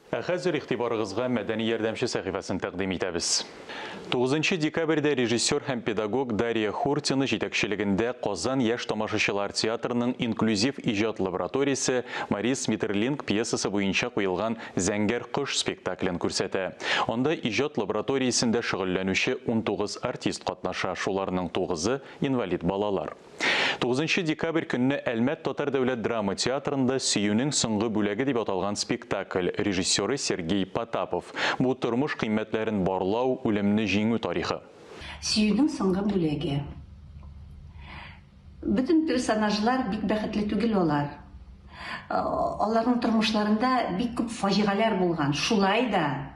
Ә хәзер игътибарыгызга Мәдәни ярдәмче сәхифәсен тәкъдим итәбез. Тугызынчы декабрьдә режиссер һәм педагог Дария Хуртина җитәкчелегендә Казан яшь тамашачылар театрының инклюзив иҗат лабораториясе Марис Метерлинк пьесасы буенча куелган Зәңгәр кош спектаклен күрсәтә. Анда иҗат лабораториясендә шөгыльләнүче унтугыз артист катнаша, шуларның тугызы, инвалид балалар. Тугызынчы декабрь көнне Әлмәт татар дәүләт драма театрында Сөюнең соңгы бүләге дип аталган спектакль, режиссеры Сергей Потапов. Бу тормыш кыйммәтләрен барлау, үлемне җиңү тарихы. Сөюнең соңгы бүләге. Бөтен персонажлар бик бәхетле түгел алар. Аларның тормышларында бик күп фаҗигаләр булган. Шулай да.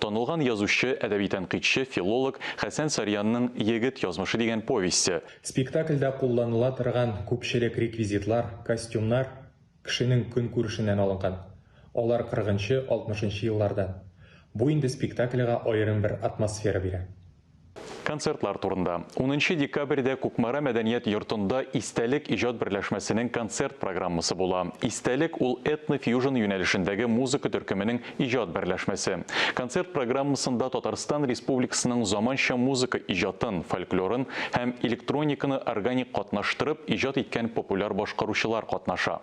Танылган язучы, әдәби тәнкыйтьче, филолог Хәсән Сарьянның Егет язмышы дигән повесте. Спектакльдә кулланыла торган күпчелек реквизитлар, костюмнар кешенең көнкүрешеннән алынган. Алар кырыгынчы, алтмышынчы еллардан. Бу инде спектакльга аерым бер атмосфера бирә. Концертлар турында. Унынчы декабрьдә Кукмара мәдәният йортында Истәлек иҗат берләшмәсенең концерт программасы була. Истәлек, ул этно-фьюжн юнәлешендәге музыка төркеменең иҗат берләшмәсе. Концерт программасында Татарстан Республикасының заманча музыка иҗатын, фольклорын һәм электрониканы органик катнаштырып иҗат иткән популяр башкаручылар катнаша.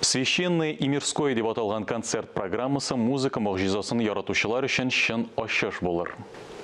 Священное и мирское дип аталган концерт программасы музыка могҗизасын яратучылар өчен чын ачыш булыр.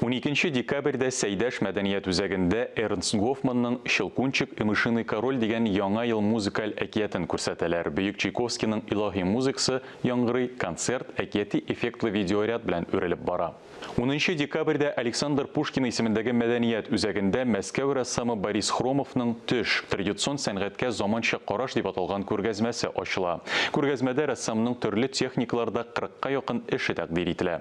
Уникенче декабрьдә Сәйдәш мәдәният үзәгендә Эрнст Гофманның Щелкунчик и мышиный король дигән Яңа ел музыкаль әкиятен күрсәтәләр, бөек Чайковскийның илаһи музыкасы яңгырый, концерт әкияти эффектлы видеоряд белән үрелеп бара. Унынчы декабрьдә Александр Пушкин исемендәге мәдәният үзәгендә Мәскәү рәссамы Борис Хромовның Төш, традицион сәнгатькә заманча караш дип аталган күргәзмәсе ачыла. Күргәзмәдә рәссамның төрле техникаларда кырыкка якын эше тәкъдир ителә.